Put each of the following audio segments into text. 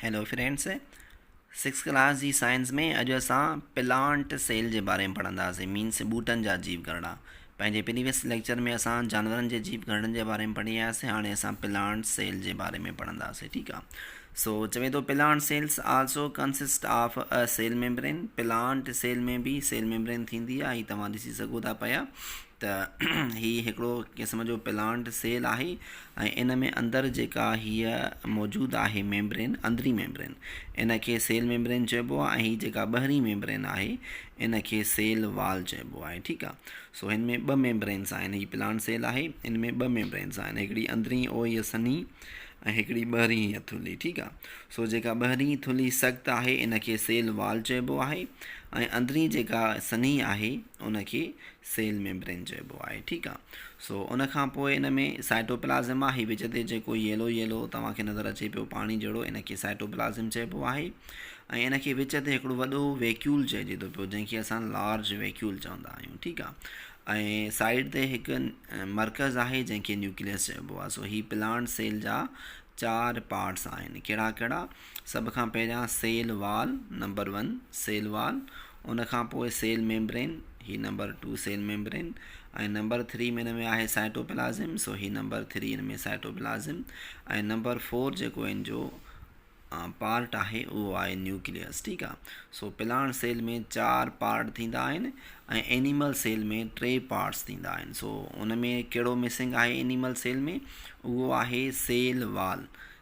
Hello friends six class جي science ۾ اڄ اسان پلانٽ سيل جي باري ۾ پڙهنداسين مينس ٻوٽن جا جيو گهرڙا پنهنجي پريويس ليڪچر ۾ اسان جانورن جي جيو گهرڙن جي باري ۾ پڙهي آياسين هاڻي اسان پلانٽ سيل جي باري ۾ پڙهنداسين ٺيڪ آ سو چوي ٿو plant cells also consist of a cell membrane plant cell ۾ به سيل ميمبرين ٿيندي آ هي توهان ڏسي سگهو ٿا پيا ته هي هڪڙو قسم جو پلانٽ سيل آهي ۽ ان ۾ اندر جيڪا هيء موجود آهي ميمبرين اندرين ميمبرين ان کي سيل ميمبرين چئبو آهي ۽ هي جيڪا ٻهرين ميمبرين آهي ان کي سيل وال چئبو آهي ٺيڪ آ سو هن ۾ ٻه ميمبرينس آهن هي پلانٽ سيل آهي ان ۾ ٻه ميمبرينس آهن هڪڙي اندرين او هيء سنهي ۽ هڪڙي ٻهرين هيء ٿلهي ٺيڪ آ سو جيڪا ٻهرين ٿلهي سخت آهي ان کي سيل وال چئبو آهي ۽ اندرين جيڪا سنهي آهي ان کي سيل ميمبرين چئبو آهي ٺيڪ آ سو ان کان پوء ان ۾ سائٽوپلازم آ هي وچ تي جيڪو ييلو ييلو توهان کي نظر اچي پيو پاڻي جهڙو ان کي سائٽوپلازم چئبو آهي ۽ ان کي وچ تي هڪڙو وڏو ويڪيول چئجي ٿو پيو جنهن کي اسان لارج ويڪيول چوندا آهيون ٺيڪ آ ۽ سائيڊ تي هڪ مرڪز آهي جنهن کي نيوڪليس چئبو آهي سو هي پلانٽ سيل جا چار پارٽس آهن ڪهڙا ڪهڙا سڀ کان پهريان cell wall number one cell wall ان کان پوء سيل ميمبرين، هي number two cell membrane, ۽ number three ۾ ان ۾ آهي سائٽوپلازم، سو هي نمبر ٿري ان ۾ سائٽوپلازم، ۽ نمبر فور جيڪو ان جو پارٽ آهي اهو آهي نيوڪليس ٺيڪ آهي سو پلاڻ سيل ۾ چار پارٽ ٿيندا آهن ۽ اينيمل سيل ۾ ٽي پارٽس ٿيندا آهن سو ان ۾ ڪهڙو مسنگ آهي اينيمل سيل ۾ اهو آهي cell wall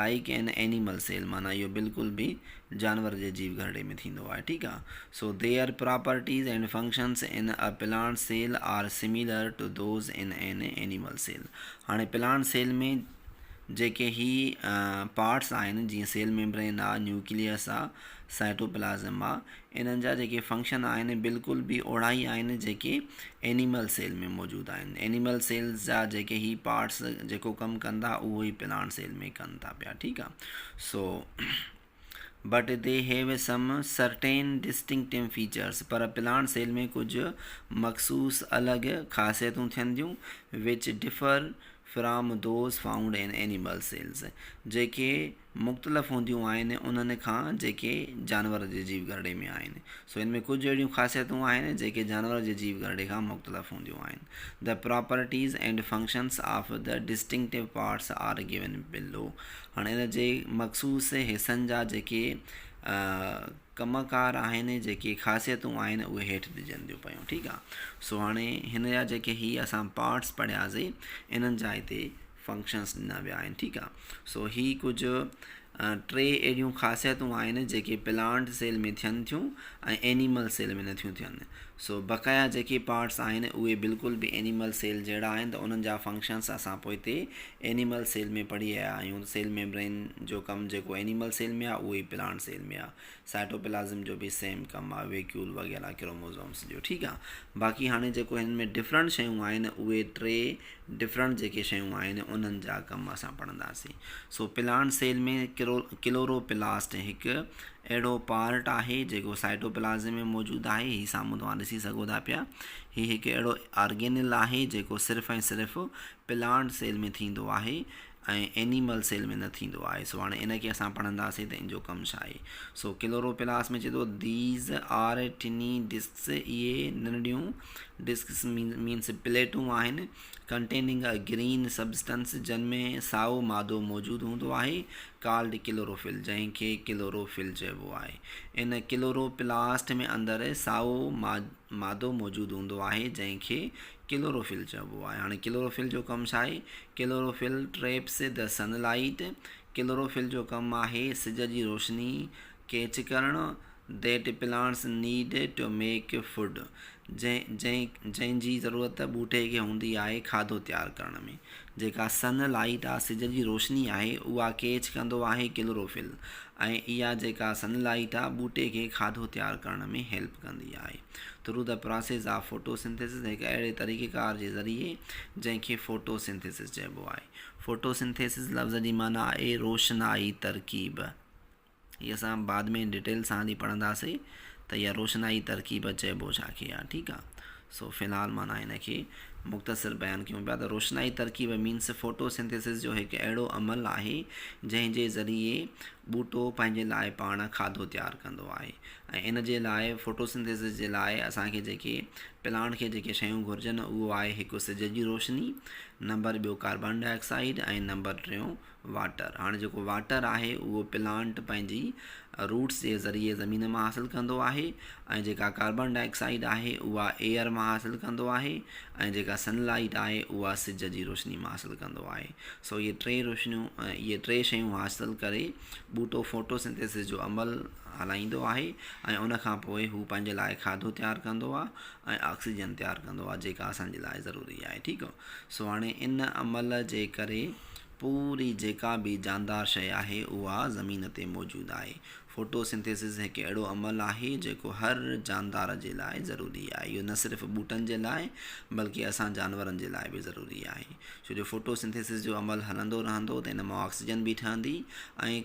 like an animal cell معنيٰ اهو بلڪل به جانور جي جيو گهرڙي ۾ ٿيندو آهي ٺيڪ آهي so there properties and functions in a plant cell are similar to those in an animal cell هاڻي پلانٽ سيل ۾ جيڪي هي پارٽس آهن جيئن سيل ميمبرين آهي نيوڪليس آهي سائٽوپلازم آهي انهن جا جيڪي فنڪشن آهن بلڪل به اوڙا ئي آهن جيڪي اينيمل سيل ۾ موجود آهن. اينيمل سيلز جا جيڪي هي پارٽس جيڪو ڪم ڪن ٿا اهو ئي پلانٽ سيل ۾ ڪن ٿا پيا ٺيڪ آ so but they have some certain distinctive features پر پلانٽ سيل ۾ ڪجهه مخصوص الڳ خاصيتون ٿين ٿيون which differ from those found in animal cells جيڪي مختلف هونديون آهن انهن کان جيڪي جانور جي جيو گهرڙي ۾ آهن سو ان ۾ ڪجهه اهڙيون خاصيتون آهن جيڪي جانور جي جيو گهرڙي کان مختلف هونديون آهن The properties and functions of the distinctive parts are given below هاڻي ان جي مخصوص حصن جا جيڪي ڪم ڪار آهن جيڪي خاصيتون آهن اهي هيٺ ڏجن ٿيون پيون ٺيڪ آهي سو هاڻي هن جا جيڪي هي اسان پارٽس پڙهياسي انهن جا هتي فنڪشنس ڏنا ويا آهن ٺيڪ آ سو هي ڪجهه ٽي اهڙيون خاصيتون آهن جيڪي پلانٽ سيل ۾ ٿين ٿيون ۽ اينيمل سيل ۾ نٿيون ٿين سو بقايا جيڪي پارٽس آهن اهي بلڪل به اينيمل سيل جهڙا آهن ته انهن جا فنڪشنس اسان پوء تي اينيمل سيل ۾ پڙهي آيا آهيون سيل ميمبرين جو ڪم جيڪو اينيمل سيل ۾ آ اهو ئي پلانٽ سيل ۾ آ سائٽوپلازم جو به سيم ڪم آ ويڪيول وغيره ڪروموزومس جو ٺيڪ آ باقي هاڻي جيڪو هن ۾ ڊفرنٽ شيون آهن اهي ٽي ڊفرنٽ جيڪي شيون آهن انهن جا ڪم اسان پڙهنداسين سو پلانٽ سيل ۾ ڪرو ڪلورو پلاسٽ هڪ اهڙو پارٽ آهي جيڪو سائٽوپلازم ۾ موجود آهي هي سامهون توهان ڏسي سگهو ٿا پيا هي هڪ اهڙو آرگينل آهي جيڪو صرف ۽ صرف پلانٽ سيل ۾ ٿيندو آهي ۽ اينيمل سيل ۾ نه ٿيندو آهي سو هاڻي ان کي اسان پڙهنداسين ته ان جو ڪم ڇا آهي سو ڪلوروپلاس ۾ چئي ٿو ديز آر ٽني ڊسڪس اهي ننڊيون ڊسڪس مينس پليٽون آهن ڪنٽيننگ ا گرين سبسٽنس جن ۾ سائو مادو موجود هوندو آهي ڪالڊ ڪلوروفل جنهن کي ڪلوروفل چئبو آهي ان ڪلوروپلاسٽ ۾ اندر سائو مادو موجود هوندو آهي جنهن کي ڪلوروفل چئبو آهي هاڻي ڪلوروفل جو ڪم ڇا آهي chlorophyll traps the sun light chlorophyll جو ڪم آهي سج جي روشني ڪيچ ڪرڻ that plants need to make food جنهن جي ضرورت ٻوٽي کي هوندي آهي کاڌو تيار ڪرڻ ۾ جيڪا سن لائيٽ آهي سج جي روشني آهي اها ڪيچ ڪندو آهي ڪلوروفل ۽ اها جيڪا سن لائيٽ آهي ٻوٽي کي کاڌو تيار ڪرڻ ۾ هيلپ ڪندي آهي Through the process of photosynthesis هڪ اهڙي طريقيڪار جي ذريعي جنهن کي فوٽو سنٿيسس چئبو آهي. فوٽو سنٿيسس لفظ جي معنيٰ آهي روشنائي ترڪيب. هي اسان بعد ۾ ڊيٽيل سان هلي پڙهنداسين ته اها روشنائي ترڪيب چئبو ڇا کي آهي ٺيڪ آهي سو في الحال معنيٰ هن کي مختصر بيان ڪيون پيا ته روشنائي ترڪيب مينس فوٽو سنٿيسس جو هڪ اهڙو عمل آهي جنهن جي ذريعي ٻوٽو پنهنجي لاء پاڻ کاڌو تيار ڪندو آهي. ۽ ان جي لاء فوٽوسنٿيسس جي لاء اسان کي جيڪي پلانٽ کي جيڪي شيون گهرجن اهو آهي هڪ سج جي روشني نمبر ٻيو ڪاربان ڊاء آڪسائيڊ ۽ نمبر ٽيون واٽر هاڻي جيڪو واٽر آهي اهو پلانٽ پنهنجي روٽس جي ذريعي زمين مان حاصل ڪندو آهي ۽ جيڪا ڪاربان ڊاء آڪسائيڊ آهي اها ايئر مان حاصل ڪندو آهي ۽ جيڪا سن لائيٽ آهي اها سج جي روشني مان حاصل ڪندو آهي سو اهي ٽي روشنيون اهي ٽي شيون حاصل ڪري ٻوٽو فوٽوسنٿيسس جو عمل هلائيندو آهي ۽ ان کان پوء هو پنهنجي لاء کاڌو تيار ڪندو آهي ۽ آڪسيجن تيار ڪندو آهي جيڪا اسان جي لاء ضروري آهي ٺيڪ آهي سو هاڻي ان عمل جي ڪري پوري جيڪا به جاندار شيء آهي اها زمين تي موجود آهي فوٽو سنٿيسز هڪ اهڙو عمل آهي جيڪو هر جاندار جي لاء ضروري آهي اهو نه صرف ٻوٽن جي لاء بلڪه اسان جانورن جي لاء به ضروري آهي ڇو جو فوٽو سنٿيسز جو عمل هلندو رهندو ته ان مان آڪسيجن به ٺهندي ۽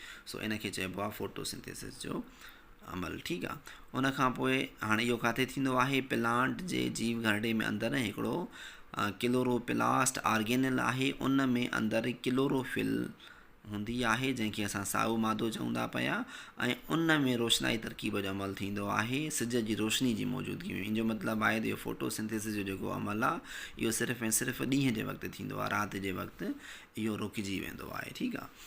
سو ان کي چئبو آهي فوٽوسنٿيسس جو عمل ٺيڪ آ ان کان پوء هاڻي اهو ڪاٿي ٿيندو آهي پلانٽ جي جيو گهرڙي ۾ اندر هڪڙو ڪلورو پلاسٽ آرگينل آهي ان ۾ اندر ڪلورو فل هوندي آهي جنهن کي اسان سائو مادو چون ٿا پيا ۽ ان ۾ روشنائي ترڪيب جو عمل ٿيندو آهي سج جي روشني جي موجودگي ۾ ان جو مطلب آهي ته اهو فوٽو سنٿيس جو جيڪو عمل آهي اهو صرف ۽ صرف ڏينهن جي وقت ٿيندو آهي رات جي وقت اهو رڪجي ويندو آهي ٺيڪ آهي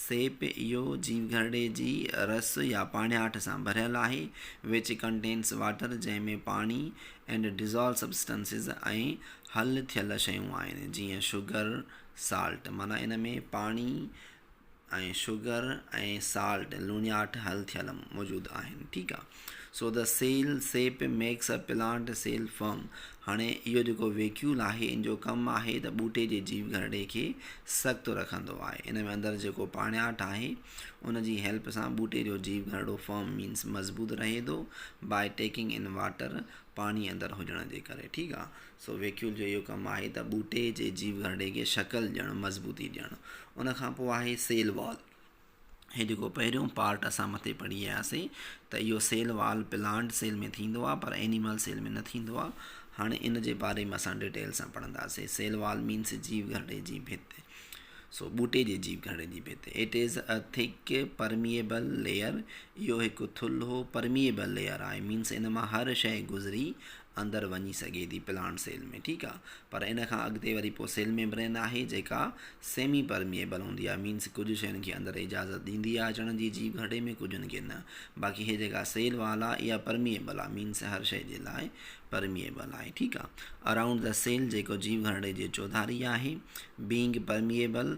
سيپ اهو جيئن گهرڙي جي رس يا پاڻياٺ سان ڀريل آهي Which contains water جنهن ۾ پاڻي and dissolved substances ۽ حل ٿيل شيون آهن جيئن شگر، Salt، معنيٰ ان ۾ پاڻي ۽ شگر ۽ Salt، لوڻياٺ، حل ٿيل موجود آهن ٺيڪ آهي. سو ته cell sap makes a plant cell firm. هاڻي اهو جيڪو ويڪيول آهي ان جو ڪم آهي ته ٻوٽي جي جيو گهرڙي کي سڪتو رکندو آهي. ان ۾ اندر جيڪو پاڻياٺ آهي ان جي هيلپ سان ٻوٽي جو جيو گهرڙو فرم مينس مضبوط رهي ٿو بائي ٽيڪنگ ان واٽر پاڻي اندر هجڻ جي ڪري ٺيڪ آهي. سو ويڪيول جو اهو ڪم آهي ته ٻوٽي جي جيو گهرڙي کي شڪل ڏيڻ مضبوطي ڏيڻ. ان کان پوء آهي سيل وال. هي جيڪو پهريون پارٽ اسان مٿي پڙهي آياسين ته اهو سيل وال پلانٽ سيل ۾ ٿيندو آهي پر اينيمل سيل ۾ نه ٿيندو آهي هاڻي ان جي باري ۾ اسان ڊيٽيل سان پڙهنداسين سيل وال مينس جيو گهرڙي جي ڀت سو ٻوٽي جي جيو گهرڙي جي ڀت it is a thick permeable layer اهو هڪ ٿلهو پرميبل ليئر آهي مينس ان مان هر شيء گذري اندر وڃي سگهي ٿي پلانٽ سيل ۾ ٺيڪ آهي پر ان کان اڳتي وري پوء سيل ميمبرين آهي جيڪا سيمي پرميئبل هوندي آهي مينس ڪجهه شين کي اندر اجازت ڏيندي آهي اچڻ جي جيء گهٽي ۾ ڪجهن کي نه باقي هي جيڪا سيل وال آهي اها پرميئبل آهي مينس هر شيء جي لاء پرميئبل آهي ٺيڪ آهي اراونڊ ذا سيل جيڪو جيء گهرڙي جي چوڌاري آهي بينگ پرميئبل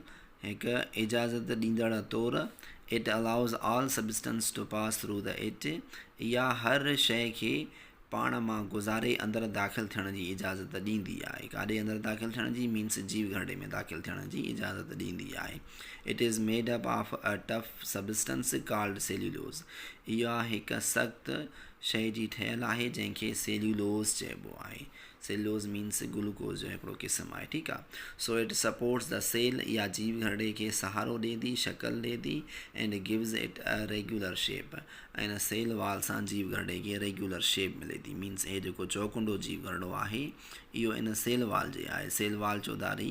هڪ اجازت ڏيندڙ طور it allows all substance to pass through the it اها هر شيء کي پاڻ مان گذاري اندر داخل ٿيڻ جي اجازت ڏيندي آهي. ڪاڏي اندر داخل ٿيڻ جي مينس جيو گهرڙي ۾ داخل ٿيڻ جي اجازت ڏيندي آهي. It is made up of a tough substance called cellulose. اها هڪ سخت شيء جي ٺهيل آهي جنهن کي سيليولوز چئبو آهي. سيليولوز مينس گلوڪوز جو هڪڙو قسم آهي ٺيڪ آهي. So it supports the cell اها جيو گهرڙي کي سهارو ڏي ٿي شڪل ڏي ٿي and gives it a regular shape. ۽ هن سيل وال سان جيو گهرڙي کي ريگيولر شيپ ملي ٿي مينس هي جيڪو چوڪنڊو جيو گهرڙو آهي اهو ان سيل وال جي آهي سيل وال چوڌاري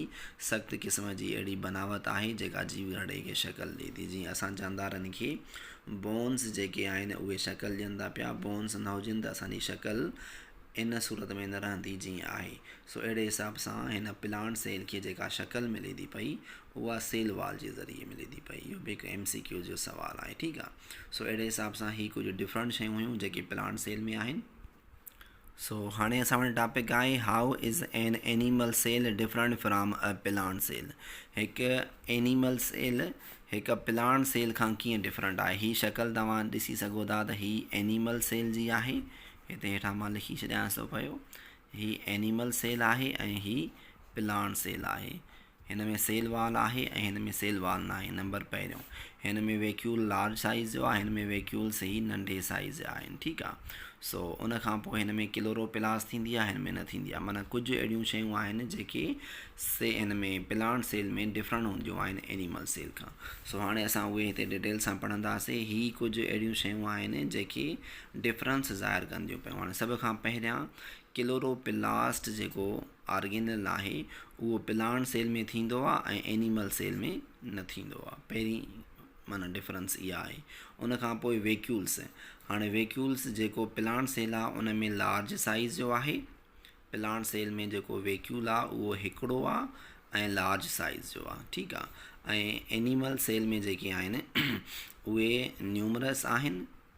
سخت قسم جي اهڙي بناوت آهي جيڪا جيو گهرڙي کي شڪل ڏئي ٿي جيئن اسان جاندارن کي بونس جيڪي آهن اهي شڪل ڏين ٿا پيا بونس نه هجن ته اسان جي شڪل ان صورت ۾ نه رهندي جيئن آهي سو اهڙي حساب سان هن پلانٽ سيل کي جيڪا شڪل ملي ٿي پئي اها سيل وال جي ذريعي ملي ٿي پئي اهو به هڪ ايم سي ڪيو جو سوال آهي ٺيڪ آهي سو اهڙي حساب سان هي ڪجهه ڊفرنٽ شيون هيون جيڪي پلانٽ سيل ۾ آهن سو هاڻي اسان وٽ ٽاپڪ آهي how is an animal cell different from a plant cell هڪ اينيمل سيل هڪ پلانٽ سيل کان ڪيئن ڊفرنٹ آهي هي شڪل توهان ڏسي سگهو ٿا ته هي اينيمل سيل جي آهي هتي هيٺان مان لکي ڇڏيانس ٿو پيو هي اينيمل سيل آهي ۽ هي پلانٽ سيل آهي هن ۾ سيل وال آهي ۽ هن ۾ سيل وال ناهي نمبر پهريون هن ۾ ويڪيول لارج سائيز جو آهي هن ۾ ويڪيول سي ننڍي سائيز جا آهن ٺيڪ آ سو ان کان پوء هن ۾ ڪلورو پلاس ٿيندي آهي هن ۾ نه ٿيندي آهي معنيٰ ڪجهه اهڙيون شيون آهن جيڪي سي هن ۾ پلانٽ سيل ۾ ڊفرنٽ هونديون آهن اينيمل سيل کان سو هاڻي اسان اهي هتي ڊيٽيل سان پڙهنداسي هي ڪجهه اهڙيون شيون آهن جيڪي ڊفرنس ظاهر ڪنديون پيون هاڻي سڀ کان پهريان ڪلورو پلاسٽ جيڪو آرگينل ناهي اهو پلانٽ سيل ۾ ٿيندو آ ۽ اينيمل سيل ۾ نه ٿيندو آ پهرين معنيٰ ڊفرنس اها آهي ان کان پوء ويڪيولس هاڻي ويڪيولس جيڪو پلانٽ سيل آ ان ۾ لارج سائيز جو آهي پلانٽ سيل ۾ جيڪو ويڪيول آ اهو هڪڙو آ ۽ لارج سائيز جو آ ٺيڪ آ ۽ اينيمل سيل ۾ جيڪي آهن اهي نيومرس آهن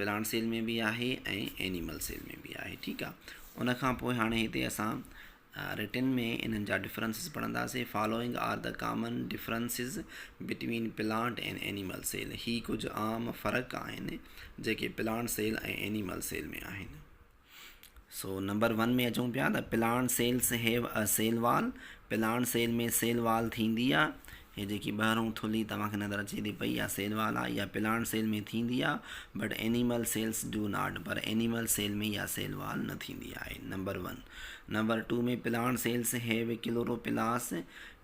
پلانٽ سيل ۾ به آهي ۽ اينيمل سيل ۾ به آهي ٺيڪ آهي ان کان پوء هاڻي هتي اسان رٽن ۾ انهن جا ڊفرنسز پڙهنداسين following are the common differences between plant and animal cell هي ڪجهه عام فرق آهن جيڪي پلانٽ سيل ۽ اينيمل سيل ۾ آهن سو نمبر ون ۾ اچون پيا ته plant cells have a cell wall plant cell ۾ cell wall ٿيندي آ هي جيڪي ٻاهرون ٿلهي توهان کي نظر اچي ٿي پئي اها سيل وال آ اها پلاڻ سيل ۾ ٿيندي آ but animal cells do not پر اينيمل سيل ۾ اها سيل وال نه ٿيندي آهي number one number two ۾ plant cells هيو ڪلورو پلاس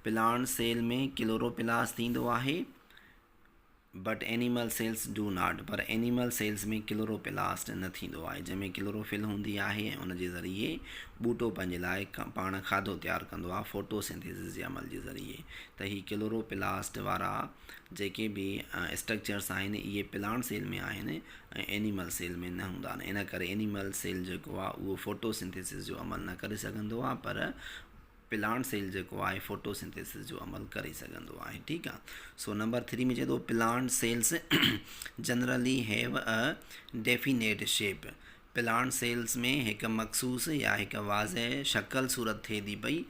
پلاڻ سيل ۾ ڪلورو پلاس ٿيندو آهي but animal cells do not پر اينيمل سيلز ۾ ڪلوروپلاسٽ نه ٿيندو آهي جنهن ۾ ڪلوروفل هوندي آهي ۽ ان جي ذريعي ٻوٽو پنهنجي لاء پاڻ کاڌو تيار ڪندو آهي ڦوٽو سينٿيسز جي عمل جي ذريعي ته هي ڪلوروپلاسٽ وارا جيڪي به اسٽرڪچرس آهن اهي پلانٽ سيل ۾ آهن ۽ اينيمل سيل ۾ نه هوندا آهن ان ڪري اينيمل سيل جيڪو آهي اهو ڦوٽو سينٿيسز جو عمل نه ڪري سگهندو آهي پر پلانٽ سيل جيڪو آهي فوٽو سنٿيسس جو عمل ڪري سگهندو آهي ٺيڪ آهي سو نمبر ٿري ۾ چئي ٿو plant cells generally have a definite shape plant cells ۾ هڪ مخصوص يا هڪ واضح شڪل صورت ٿئي ٿي پئي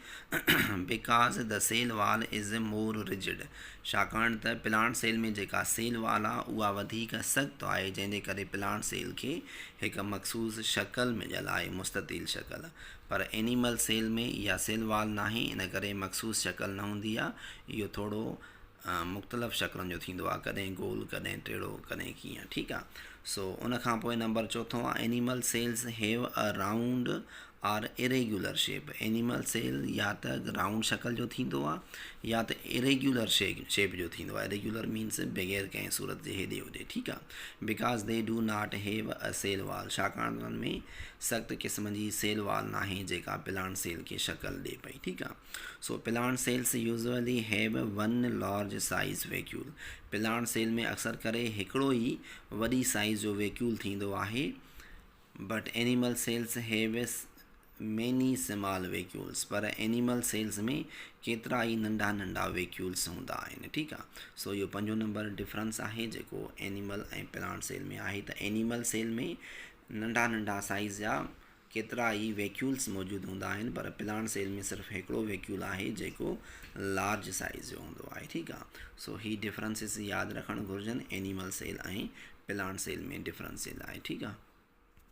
because the cell wall is more rigid ڇاڪاڻ ته پلانٽ سيل ۾ جيڪا سيل وال آهي اها وڌيڪ سخت آهي جنهن جي ڪري پلانٽ سيل کي هڪ مخصوص شڪل مليل آهي مستطيل شڪل پر اينيمل سيل ۾ اها سيل وال ناهي ان ڪري مخصوص شڪل نه هوندي آهي. اهو ٿورو مختلف شڪلن جو ٿيندو آهي ڪڏهن گول ڪڏهن ٽيڙو ڪڏهن ڪيئن ٺيڪ آهي سو ان کان پوء نمبر چوٿون آهي animal cells have a round or irregular shape animal cell يا ته رائونڊ شڪل جو ٿيندو آهي يا ته اريگيولر شيپ شيپ جو ٿيندو آهي اريگيولر مينس بغير ڪنهن صورت جي هيڏي هوڏي ٺيڪ آهي Because they do not have a cell wall ڇاڪاڻ ته انهن ۾ سخت قسم جي سيل وال ناهي جيڪا پلانٽ سيل کي شڪل ڏئي پئي ٺيڪ آ so plant cells usually have one large size vacuole plant cell ۾ اڪثر ڪري هڪڙو ئي وڏي سائيز جو ويڪيول ٿيندو آهي but animal cells have many small vacuoles پر اينيمل سيلز ۾ ڪيترا ئي ننڍا ننڍا ويڪيولز هوندا آهن ٺيڪ آ سو اهو پنجون نمبر ڊفرنس آهي جيڪو اينيمل ۽ پلانٽ سيل ۾ آهي ته اينيمل سيل ۾ ننڍا ننڍا سائيز جا ڪيترا ئي ويڪيولز موجود هوندا آهن پر پلانٽ سيل ۾ صرف هڪڙو ويڪيول آهي جيڪو لارج سائيز جو هوندو آهي ٺيڪ آ سو هي ڊفرنسز ياد رکڻ گهرجن animal cell ۽ plant cell ۾ difference cell آهي ٺيڪ آهي